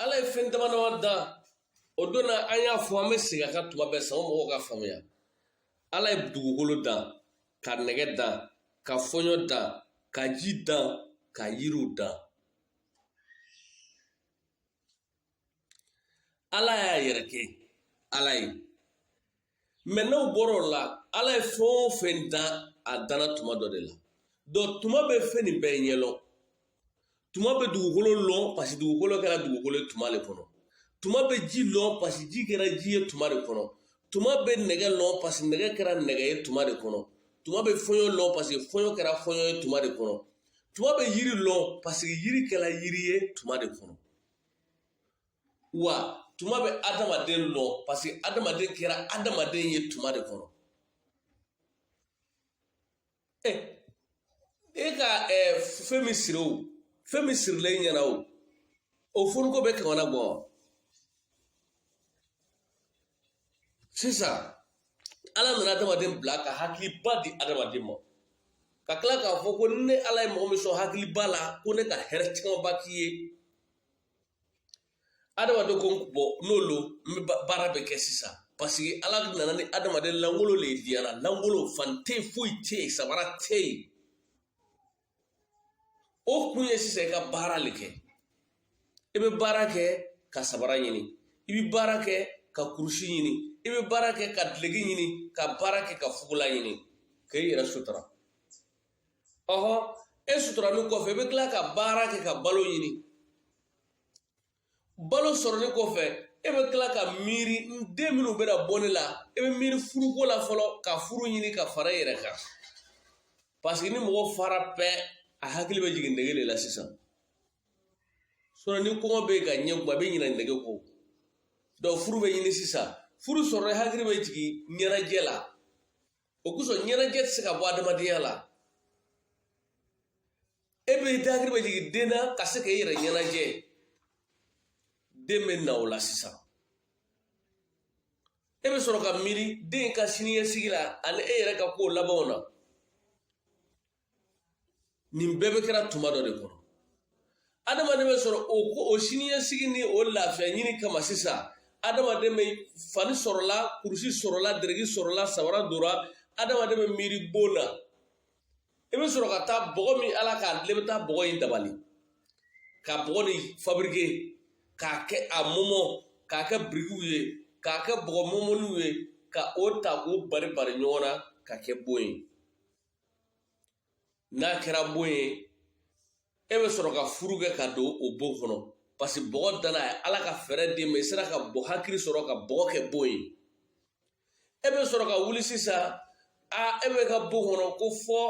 ala ye fɛn dama dama dan o don na an y'a fɔ an bɛ segin a kan tuma bɛɛ sango mɔgɔw ka faamuya ala ye dugukolo dan ka nɛgɛ dan ka fɔɲɔ dan ka ji dan ka yiriw dan ala y'a yɛrɛ kɛ ala ye mɛ n'aw bɔra o la ala ye fɛn o fɛn dan a danna tuma dɔ de la dɔnku tuma bɛ fɛn nin bɛɛ ɲɛlɔn tuma bɛ dugukolo lɔn pasi dugukolo kɛra dugukolo ye tuma le kɔnɔ tuma bɛ ji lɔn pasi ji kɛra ji ye tuma de kɔnɔ tuma bɛ nɛgɛ lɔn pasi nɛgɛ kɛra nɛgɛ ye tuma de kɔnɔ tuma bɛ fɔɲɔ lɔn pasi fɔɲɔ kɛra fɔɲɔ ye tuma de kɔnɔ tuma bɛ yiri lɔn pasi yiri kɛra yiri ye tuma de kɔnɔ wa tuma bɛ adamaden lɔn parce que adamaden kɛra adamaden ye tuma de kɔnɔ e e ka eh, fɛn min siri o fɛn min sirilen i ɲɛna o o foni ko bɛ kamana gwan wa sisan ala nana adamaden bila ka hakiliba di adamaden ma ka tila k'a fɔ ko ne ala ye mɔgɔ min sɔn hakiliba la ko ne ka hɛrɛ camanba k'i ye adamaden ko bɔn n'o lo n bɛ baara bɛ kɛ sisan paseke ala nana ni adamaden langolo le ye diɲɛ la langolo fani tɛ yen foyi tɛ yen sabara tɛ yen o kun ye sisan i ka baara le kɛ i bɛ baara kɛ ka sabara ɲini i bɛ baara kɛ ka kurusi ɲini i bɛ baara kɛ ka dileki ɲini ka baara kɛ ka fugula ɲini ka i yɛrɛ sutura ɔhɔ e suturanin kɔfɛ i bɛ tila ka baara kɛ ka balo ɲini balo sɔrɔnin kɔfɛ e bɛ tila ka miiri n den minnu bɛna bɔ ne la e bɛ miiri furuko la fɔlɔ ka furu ɲini ka fara i yɛrɛ kan paseke ni mɔgɔ fara pɛ a hakili bɛ jigin nege de la sisan sinɔn ni kɔngɔ bɛ yen ka ɲɛ kuma a bɛ ɲinɛ nege kɔ dɔnku furu bɛ ɲini sisan furu sɔrɔnin hakili bɛ jigin ɲɛnajɛ la o kosɔn ɲɛnajɛ tɛ se ka bɔ adamadenya la e bɛ hakili bɛ jigin den na ka se k'e yɛrɛ ɲɛnajɛ den bɛ na o la sisan e bɛ sɔrɔ ka miiri den ka siniɲɛsigi la ani e yɛrɛ ka kow labanw na nin bɛɛ bɛ kɛra tuma dɔ de kɔnɔ adamaden bɛ sɔrɔ o ko o siniɲɛsigi ni o lafiya ɲini kama sisan adamaden bɛ fani sɔrɔla kurusi sɔrɔla dereki sɔrɔla sabara dora adamaden bɛ miiri bon na i bɛ sɔrɔ ka taa bɔgɔ min ala k'a dilan i bɛ taa bɔgɔ in dabali ka bɔgɔ nin fabirike k'a kɛ a mɔmɔ k'a kɛ birikiw ye k'a kɛ bɔgɔ mɔmɔniw ye ka o ta k'o bari bari ɲɔgɔn na k'a kɛ bon ye n'a kɛra bon ye e bɛ sɔrɔ ka furu kɛ ka don o bon kɔnɔ parce que bɔgɔ danna ye ala ka fɛɛrɛ d'i ma i sera ka bɔ hakili sɔrɔ ka bɔgɔ kɛ bon ye e bɛ sɔrɔ ka wuli sisan a e bɛ ka bon kɔnɔ ko fɔ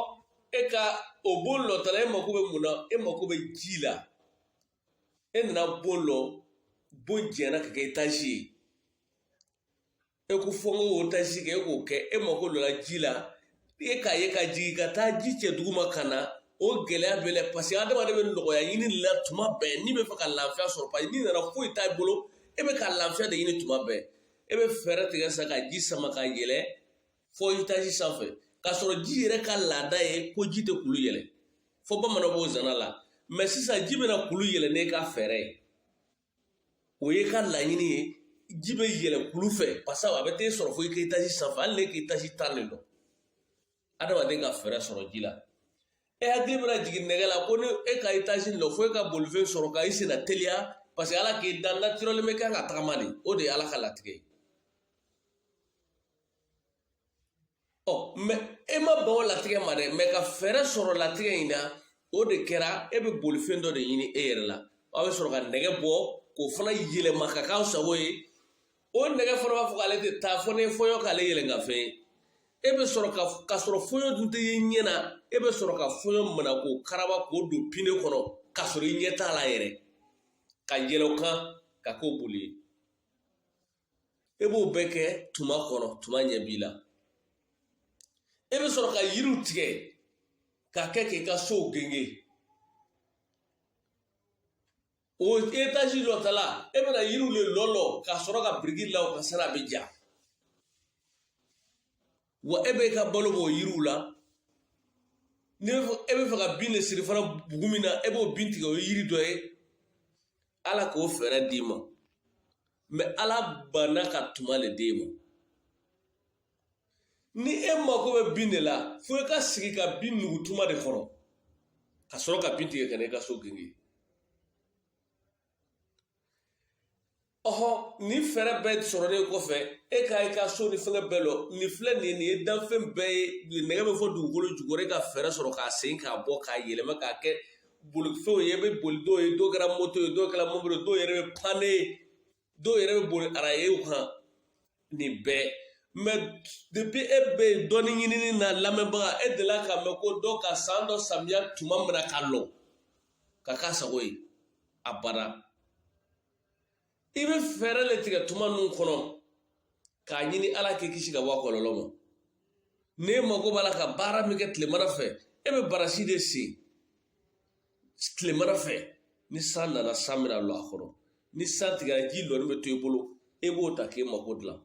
e ka o bon lɔtala e mako bɛ mun na e mako bɛ ji la e nana bon lɔ bon janyana ka kɛ etazi ye e ko fɔ n k'o etazi kɛ e k'o kɛ e mako lɔla ji la e k'a ye ka jigin ka taa ji cɛ duguma ka na o gɛlɛya b'e la parce que adamaden bɛ nɔgɔya ɲini la tuma bɛɛ n'i bɛ fɛ ka lafiya sɔrɔ parce que n'i nana foyi t'a bolo e bɛ ka lafiya de ɲini tuma bɛɛ e bɛ fɛɛrɛ tigɛ sisan ka ji sama ka yɛlɛ fɔ etazi sanfɛ k'a sɔrɔ ji yɛrɛ ka laada ye ko ji tɛ kulu yɛlɛ fɔ bamananw b'o zana la mɛ sisan ji bɛna kulu yɛlɛ n'e ka fɛɛrɛ ye o ye ka laɲini ye ji bɛ yɛlɛ kulu fɛ parce que a bɛ t'e sɔrɔ fo i ka etazi sanfɛ hali n'e ka etazi tan de lɔ adamaden ka fɛɛrɛ sɔrɔ ji la e hakili bɛna jigin nɛgɛ la ko ni e ka etazi lɔ fo e ka bolifɛn sɔrɔ ka i senna teliya parce que ala k'i dan naturellement bɛ kan ka tagama de o de ye ala ka latigɛ ye ɔ mɛ e ma ban o latigɛ ma dɛ mɛ ka fɛɛrɛ sɔrɔ latigɛ in na o de kɛra e bɛ bolifɛn dɔ de ɲini e yɛrɛ la aw bɛ sɔrɔ ka nɛgɛ bɔ k'o fana yɛlɛma ka k'aw sago ye o nɛgɛ fana b'a fɔ k'ale tɛ taa fɔ ni fɔɲɔ k'ale yɛlɛ ka fɛn ye e bɛ sɔrɔ ka ka sɔrɔ fɔɲɔ dun tɛ ye ɲɛ na e bɛ sɔrɔ ka fɔɲɔ mina k'o karaba k'o don pine kɔnɔ k'a sɔrɔ i ɲɛ t'a la yɛrɛ ka yɛlɛ o kan ka k'o boli ye e b'o bɛɛ kɛ tuma kɔnɔ tuma ɲɛ b'i la e bɛ sɔrɔ ka yiriw tigɛ k'a kɛ k'i ka sow genge o etazi lɔtala e bɛna yiriw le lɔlɔ k'a sɔrɔ ka biriki la o kan sara a bɛ ja wa e bɛ ka balo b'o yiriw la ni e bɛ fɛ ka bin de siri fana bugu min na e b'o bin tigɛ o ye yiri dɔ ye ala k'o fɛɛrɛ d'i ma mɛ ala banna ka tuma le d'e ma ni e mako bɛ bin de la fo i ka sigi ka bin nugu tuma de kɔnɔ ka sɔrɔ ka bin tigɛ ka na i ka so genge ɔhɔ nin fɛɛrɛ bɛɛ sɔrɔlen kɔfɛ e ka i ka so ni fɛngɛ bɛɛ lɔ nin filɛ nin ye nin ye danfɛn bɛɛ ye nɛgɛ bɛ fɔ dugukolo jukɔrɔ e ka fɛɛrɛ sɔrɔ k'a sen k'a bɔ k'a yɛlɛma k'a kɛ bolifɛnw ye e bɛ boli dɔw ye dɔw kɛra moto ye dɔw kɛra mobili dɔw yɛrɛ bɛ pan dɔw yɛrɛ bɛ boli arayew kan nin bɛɛ mɛ depuis e bɛ dɔnni ɲinini na lamɛnbaga e delila k'a mɛn ko dɔ ka san dɔ samiya tuma mina ka lɔ ka k'a sago ye abada i bɛ fɛɛrɛ le tigɛ tuma ninnu kɔnɔ k'a ɲini ala k'i kisi ka bɔ a kɔlɔlɔ ma n'e mago b'a la ka baara min kɛ tilemana fɛ e bɛ barasi de sen tilemana fɛ ni san nana san bɛna lɔ a kɔnɔ ni san tigɛra ji lɔnin bɛ to i bolo e b'o ta k'e mago dilan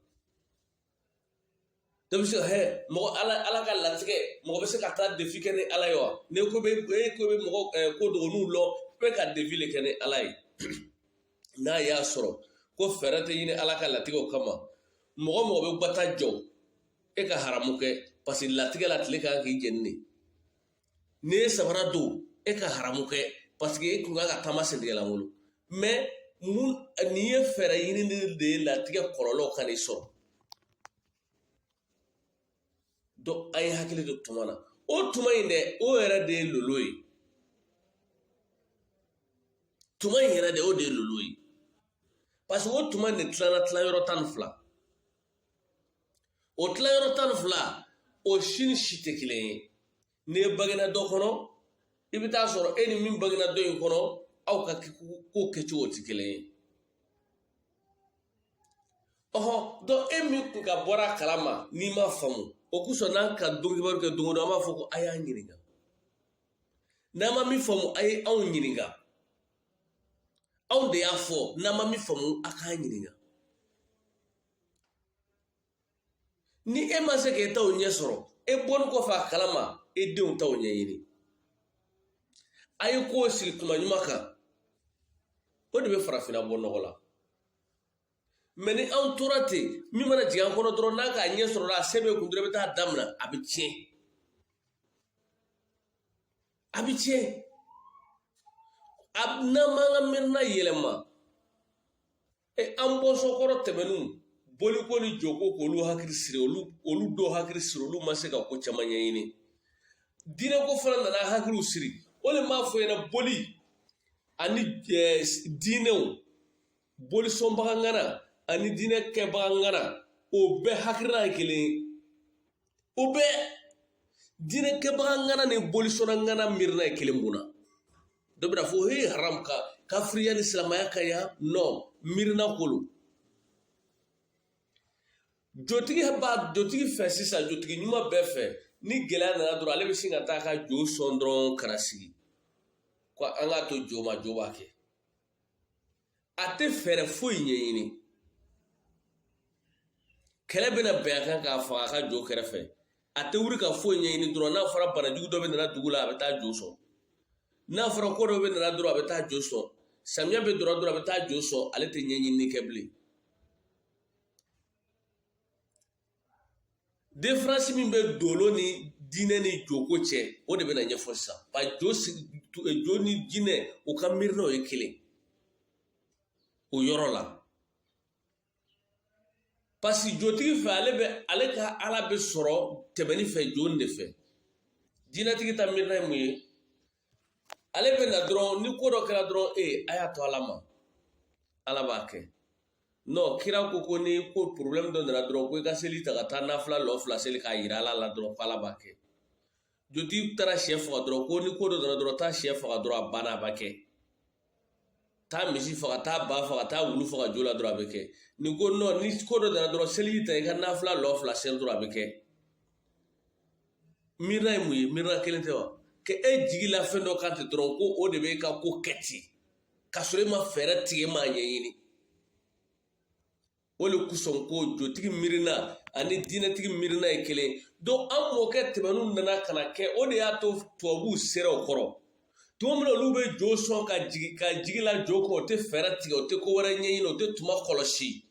dɔ bɛ se ka hɛ mɔgɔ ala ala ka latigɛ mɔgɔ bɛ se ka taa defi kɛ ni ala ye wa ni ko bɛ e ko bɛ mɔgɔ ɛ ko dɔgɔninw lɔ bɛ ka defi le kɛ ni ala ye n'a y'a sɔrɔ ko fɛɛrɛ tɛ ɲini ala ka latigɛw kama mɔgɔ mɔgɔ bɛ gbata jɔ e ka haramu kɛ parce que latigɛ la tile ka kan k'i jeni de n'i ye sabara don e ka haramu kɛ parce que e kun kan ka taama sentigɛ lankolon mɛ mun nin ye fɛɛrɛ ɲini de ye latigɛ kɔlɔlɔ kan'i sɔrɔ donc an ye hakili to tuma na o tuma in dɛ o yɛrɛ de ye lolo ye tuma in yɛrɛ de o de ye lolo ye parce que o tuma in de tilala tilayɔrɔ tan ni fila o tilayɔrɔ tan ni fila o si ni si tɛ kelen ye ni e bangena dɔ kɔnɔ i bɛ taa sɔrɔ e ni min bangena dɔ in kɔnɔ aw ka ko kɛcogo tɛ kelen ye ɔhɔ donc e min tun ka bɔra a kalama n'i ma faamu o kosɔn n'an ka donkibaru kɛ don o don an b'a fɔ ko a y'an ɲininka n'a ma min faamu a ye anw ɲininka anw de y'a fɔ n'a ma min faamu a k'an ɲininka ni e ma se k'e taw ɲɛ sɔrɔ e bɔnin kɔfɛ a kalama e denw taw ɲɛɲini a ye kow sigi kuma ɲuman kan o de bɛ farafinna bɔ nɔgɔ la mɛ ni anw tora ten min mana jigin an kɔnɔ dɔrɔn n'a k'a ɲɛ sɔrɔ la a se bɛ kun dɔrɔn i bɛ taa damina a bɛ tiɲɛ a bɛ tiɲɛ a n'an m'an ka miirina yɛlɛma E an bɔnsɔn kɔrɔ tɛmɛnenw boliko ni joko k'olu hakili siri olu olu dɔw hakili siri olu ma se ka ko caman ɲɛɲini diinɛko fana nana hakiliw siri o de m'a fɔ ɲɛna boli ani diinɛw bolisɔnbaga ŋana ani diinɛ kɛbaga ŋana o bɛɛ hakilina ye kelen o bɛɛ diinɛkɛbaga ŋana ni bolisɔnna ŋana miirina ye kelen mun na dɔ bɛna fɔ he haram kafiriya ni silamɛya ka ya non miirina kolo jotigi b'a jotigi fɛ sisan jotigi ɲuman bɛɛ fɛ ni gɛlɛya nana dɔrɔn ale bɛ sin ka taa ka jo sɔn dɔrɔn ka na sigi ko an k'a to jo ma jo b'a kɛ a tɛ fɛɛrɛ foyi ɲɛɲini kɛlɛ bɛna bɛn a kan k'a faga a ka jo kɛrɛfɛ a tɛ wuli ka foyi ɲɛɲini dɔrɔn n'a fɔra banajugu dɔ bɛna na dugu la a bɛ taa jo sɔn n'a fɔra ko dɔ bɛna na dɔrɔn a bɛ taa jo sɔn samiya bɛ don dɔrɔn a bɛ taa jo sɔn ale tɛ ɲɛɲinini kɛ bilen diferansi min bɛ dolo ni diinɛ ni joko cɛ o de bɛna ɲɛfɔ sisan ba jo jo ni diinɛ u ka miirinaw ye kelen o yɔrɔ la parce que jotigi fɛ ale bɛ ale ka ala bɛ sɔrɔ tɛmɛni fɛ jo de fɛ diinɛtigi ta miirina ye mun ye ale bɛ na dɔrɔn ni ko dɔ kɛra dɔrɔn e a y'a to ala ma ala b'a kɛ n'o kira ko ko ni ko porobilɛmu dɔ nana dɔrɔn ko i ka seli ta ka taa nafila lɔ fila seli k'a yira ala la dɔrɔn ko ala b'a kɛ jotigi taara sɛ faga dɔrɔn ko ni ko dɔ nana dɔrɔn taa sɛ faga dɔrɔn a banna a b'a kɛ taa misi faga taa ba faga taa wulu faga jo la dɔrɔn a bɛ kɛ ni ko nɔ ni ko dɔ dara dɔrɔn seliji ta i ka nafila lɔ fila seli dɔrɔn a bɛ kɛ miirina ye mun ye miirina kelen tɛ wa ka e jigi la fɛn dɔ kan ten dɔrɔn ko o de bɛ ka ko kɛ ten ka sɔrɔ e ma fɛɛrɛ tigɛ e m'a ɲɛɲini o le kosɔn ko jotigi miirina ani diinɛtigi miirina ye kelen donc an mɔkɛ tɛmɛnu nana ka na kɛ o de y'a to tubabuw sera o kɔrɔ tuma min na olu bɛ jo sɔn ka jigi la jo kan o tɛ fɛɛrɛ tigɛ o tɛ ko wɛrɛ ɲɛɲini o tɛ tuma kɔlɔsi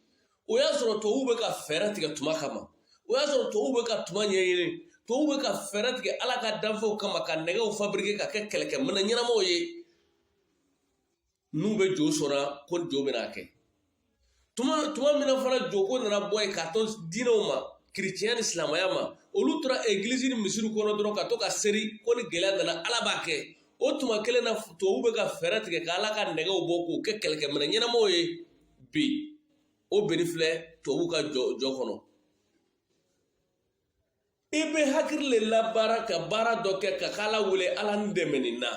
o y'a sɔrɔ tubabuw bɛ ka fɛɛrɛ tigɛ tuma kama o y'a sɔrɔ tubabuw bɛ ka tuma ɲɛɲini tubabuw bɛ ka fɛɛrɛ tigɛ ala ka danfɛnw kama ka nɛgɛw fabrike ka kɛ kɛlɛkɛminɛn ɲɛnamaw ye n'u bɛ jo sɔnna ko jo bɛn'a kɛ tuma min na fana joko nana bɔ yen k'a to diinɛw ma kiricɛnya ni silamɛya ma olu tora egilisi ni misiri kɔnɔ dɔrɔn ka to ka seri ko ni gɛlɛya nana ala b'a kɛ o tuma kelen na tubabu bɛ ka fɛɛrɛ tigɛ ka ala ka nɛgɛw bɔ k'o kɛ kɛlɛkɛminɛn ɲɛnamaw ye bi o binnen filɛ tubabu ka jɔ kɔnɔ i bɛ hakili le labaara ka baara dɔ kɛ ka k'ala wele ala n dɛmɛ nin na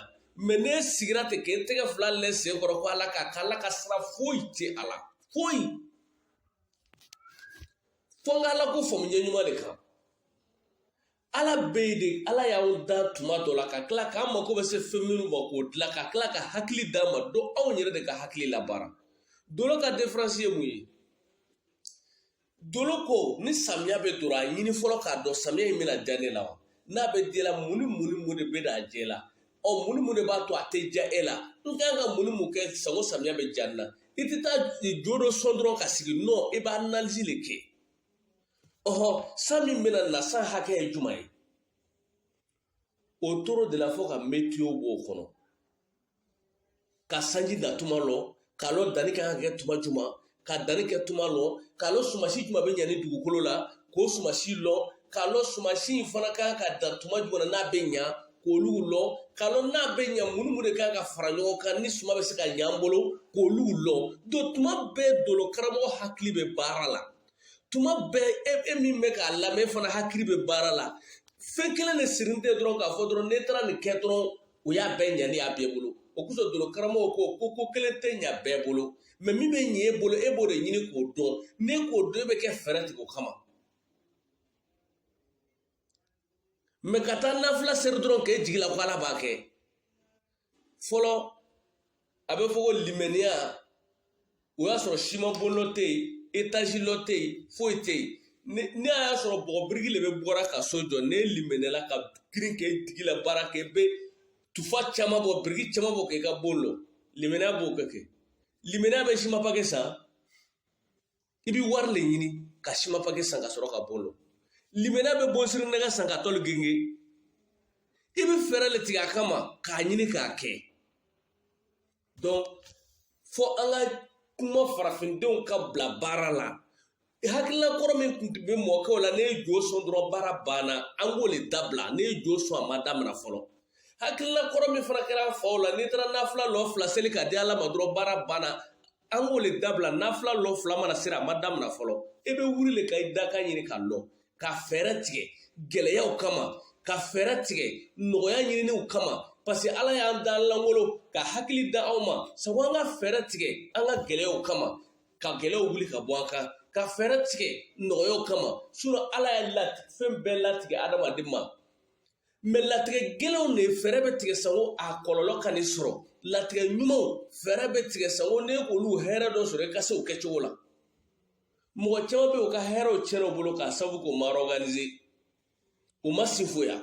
mɛ n'e sigira ten k'e tɛgɛ fila l'e sen kɔrɔ ko ala k'a kɛ ala ka sira foyi tɛ a la foyi fo n ka ala ko faamu ɲɛ ɲuman de kan ala bɛ yen de ala y'aw da tuma dɔ la ka tila k'an mako bɛ se fɛn minnu ma k'o dilan ka tila ka hakili d'an ma donc anw yɛrɛ de ka hakili labaara dolo ka diferansi ye mun ye Dolo ko ni samiya bɛ don a ɲini fɔlɔ k'a dɔn samiya in bɛna diya ne la wa n'a bɛ diya e la mun ni mun ni mun de bɛn'a diya e la ɔ mun ni mun de b'a to a tɛ diya e la n ka kan ka mun ni mun kɛ sanko samiya bɛ diya ne na i tɛ taa jo dɔ sɔn dɔrɔn ka sigi non i b'analizi le kɛ ɔhɔ san min bɛna na san hakɛ ye juman ye o toro de la fo ka metiyo b'o kɔnɔ ka sanji da tuma lɔn k'a lɔn danni ka kan ka kɛ tuma juman ka danni kɛ tuma lɔn k'a lɔn sumasi juman bɛ ɲa nin dugukolo la k'o sumasi lɔn k'a lɔn sumasi in fana ka kan ka dan tuma juman na n'a bɛ ɲa k'olu lɔn k'a lɔn n'a bɛ ɲa mun ni mun de ka kan ka fara ɲɔgɔn kan ni suma bɛ se ka ɲa an bolo k'olu lɔn don tuma bɛɛ dolo karamɔgɔ hakili bɛ baara la tuma bɛɛ e e min bɛ k'a lamɛn fana hakili bɛ baara la fɛn kelen de sirilen tɛ dɔrɔn k'a fɔ dɔrɔn n'e taara nin kɛ dɔrɔn o y'a bɛɛ ɲa ne y'a bɛɛ bolo o kosɔn dolo karamɔgɔ ko ko ko kelen tɛ ɲa bɛɛ bolo mɛ min bɛ ɲɛ e bolo e b'o de ɲini k'o dɔn n'e k'o dɔn e bɛ kɛ fɛɛrɛ tigɛ o kama mɛ ka taa nafila seri dɔrɔn k'e jigi la ko ala b'a kɛ fɔlɔ a bɛ fɔ ko limaniya o y'a sɔrɔ simabon lɔ tɛ yen etazi lɔ tɛ yen foyi tɛ yen ne ne y'a sɔrɔ bɔgɔ biriki le bɛ bɔra ka so jɔ n'e limaniyala ka girin k'e digi la baara kɛ bɛ tufa caman bɔ biriki caman bɔ k'i ka bon lɔ limaniya b'o kɛ kɛ limaniya bɛ simapaki san i bɛ wari le ɲini ka simapaki san ka sɔrɔ ka bon lɔ limaniya bɛ bonsiri nɛgɛ san ka tɔli genge i bɛ fɛɛrɛ le tigɛ a kama k'a ɲini k'a kɛ donc fo an ka kuma farafindenw ka bila baara la hakilila kɔrɔ min tun bɛ mɔkɛw la ne ye jo sɔn dɔrɔn baara banna an k'o le dabila ne ye jo sɔn a ma damina fɔlɔ hakilila kɔrɔ min fana kɛra an faw la n'i taara nafila lɔ fila seli ka di ala ma dɔrɔn baara banna an k'o le dabila nafila lɔ fila mana seri a ma damina fɔlɔ e bɛ wuli le ka i dakan ɲini k'a lɔn ka fɛɛrɛ tigɛ gɛlɛyaw kama ka fɛɛrɛ tigɛ nɔgɔya ɲininiw kama parce que ala y'an dan langolon ka hakili da aw ma sango an ka fɛɛrɛ tigɛ an ka gɛlɛyaw kama ka gɛlɛyaw wuli ka bɔ an kan ka fɛɛrɛ tigɛ nɔgɔyaw kama sinɔn ala ye lati fɛn bɛɛ latigɛ adamaden ma mɛ latigɛ gɛlɛnw de fɛɛrɛ bɛ tigɛ sango a kɔlɔlɔ kan'i sɔrɔ latigɛ ɲumanw fɛɛrɛ bɛ tigɛ sango ne k'olu hɛrɛ dɔ sɔrɔ i ka se o kɛcogo la mɔgɔ caman bɛ yen u ka hɛrɛw tiɲɛna u bolo k'a sababu k'u ma ɔrɔganize u ma sinfoya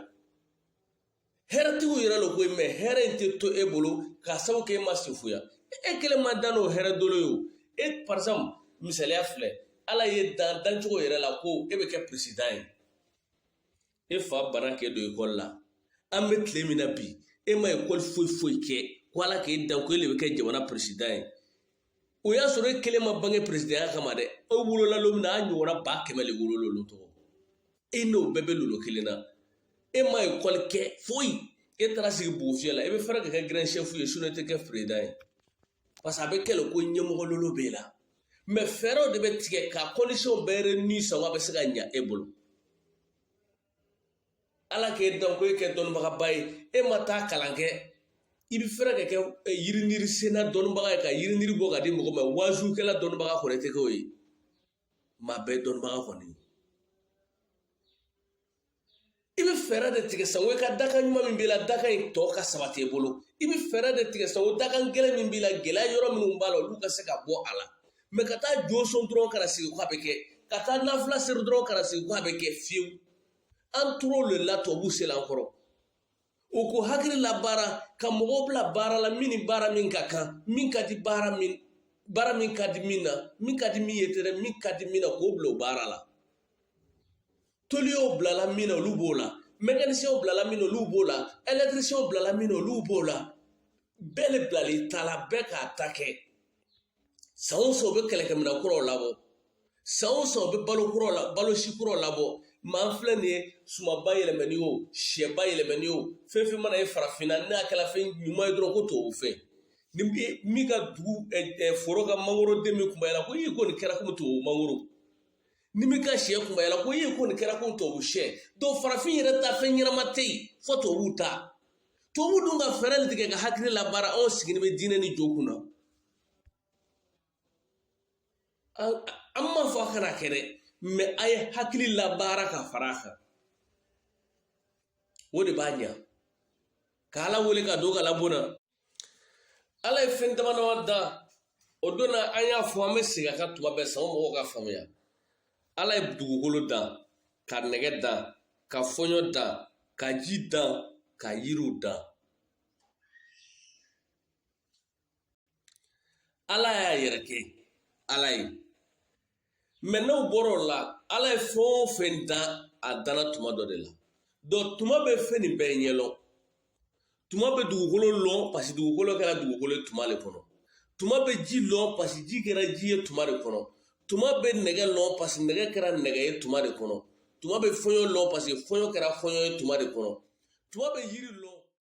hɛrɛtigiw yɛrɛ lo koyi mɛ hɛrɛ in tɛ to e bolo k'a sababu kɛ e ma sinfoya e kelen ma dan n'o hɛrɛ dolo ye o e par exemple misaliya filɛ ala y'e dan dancogo yɛrɛ la ko e bɛ kɛ peresidan ye e fa bana k'e don ekɔli la an bɛ tile min na bi e ma ekɔli foyi foyi kɛ ko ala k'e dan ko e de bɛ kɛ jamana peresida ye o y'a sɔrɔ e kelen ma bange peresidaya kama dɛ e wolola lon min na a ɲɔgɔnna ba kɛmɛ le wolola olu tɔgɔ e n'o bɛɛ bɛ lolo kelen na e ma ekɔli kɛ foyi e taara sigi bugufiyɛ la e bɛ fɛrɛ ka kɛ gɛrɛn sɛfu ye sinɔn e tɛ kɛ perezidan ye parce que a bɛ kɛ le ko ɲɛmɔgɔlolo b'e la mɛ fɛɛrɛw de bɛ tigɛ ka condition bɛɛ réunir sango a bɛ se ka ɲa e bolo ala k'e dan ko e kɛ dɔnnibagaba ye e ma taa kalan kɛ i bɛ fɛrɛ ka kɛ yiriniri senna dɔnnibaga ye ka yiriniri bɔ ka di mɔgɔ ma wazukɛla dɔnnibaga kɔni tɛ kɛ o ye maa bɛɛ dɔnnibaga kɔni i bɛ fɛɛrɛ de tigɛ sango i ka dakan ɲuman min b'i la dakan in tɔ ka sabati i bolo i bɛ fɛɛrɛ de tigɛ sango dakan gɛlɛn min b'i la gɛlɛya yɔrɔ minnu b'a la olu ka se ka bɔ a la mɛ ka taa jo sɔn dɔrɔn kana sigi k'a bɛ kɛ ka taa nafila seri dɔrɔn kana sigi k'a bɛ kɛ fiyewu an tor'o de la tubabuw sela an kɔrɔ u ko hakili labaara ka mɔgɔw bila baara la min ni baara min ka kan min ka di baara min baara min ka di min na min ka di min ye tɛrɛ min ka di min na k'o bila o baara la toliyaw bilala min na olu b'o la mɛkanisiyɛnw bilala min na olu b'o la ɛlɛtirisiyɛnw bilala min na olu b'o la bɛɛ le bilal'i ta la bɛɛ k'a ta kɛ san o san u bɛ kɛlɛkɛminɛn kuraw labɔ san o san u bɛ balo si kuraw labɔ maa filɛ nin ye sumaba yɛlɛmani o sɛba yɛlɛmani o fɛn fɛn mana ye farafinna n'a kɛra fɛn ɲuman ye dɔrɔn ko tubabu fɛn ni min ka dugu foro ka mangoro den min kunbayara ko i ko nin kɛra komi tubabu mangoro ni min ka sɛ kunbayala ko i ye ko nin kɛra komi tubabu sɛ donc farafin yɛrɛ ta fɛn ɲɛnama tɛ yen fo tubabuw ta tubabu dun ka fɛɛrɛ de tigɛ ka hakili labaara anw sigilen bɛ diinɛ ni jo kunna an m'a fɔ a kana kɛ dɛ mɛ a ye hakili labaara ka fara a kan o de b'a ɲa k'ala wele ka don kalanbon na ala ye fɛn dama dama da o don na an y'a fɔ an bɛ segin a kan tuma bɛɛ sango mɔgɔw ka faamuya ala ye dugukolo dan ka nɛgɛ dan ka fɔɲɔ dan ka ji dan ka yiriw dan ala y'a yɛrɛ kɛ ala ye mɛ n'o bɔra o la ala ye fɛn o fɛn dan a danna tuma dɔ de la donc tuma bɛ fɛn nin bɛɛ ɲɛlɔn tuma bɛ dugukolo lɔn parce que dugukolo kɛra dugukolo ye tuma de kɔnɔ tuma bɛ ji lɔn parce que ji kɛra ji ye tuma de kɔnɔ tuma bɛ nɛgɛ lɔn parce que nɛgɛ kɛra nɛgɛ ye tuma de kɔnɔ tuma bɛ fɔɲɔ lɔn parce que fɔɲɔ kɛra fɔɲɔ ye tuma de kɔnɔ tuma bɛ yiri lɔn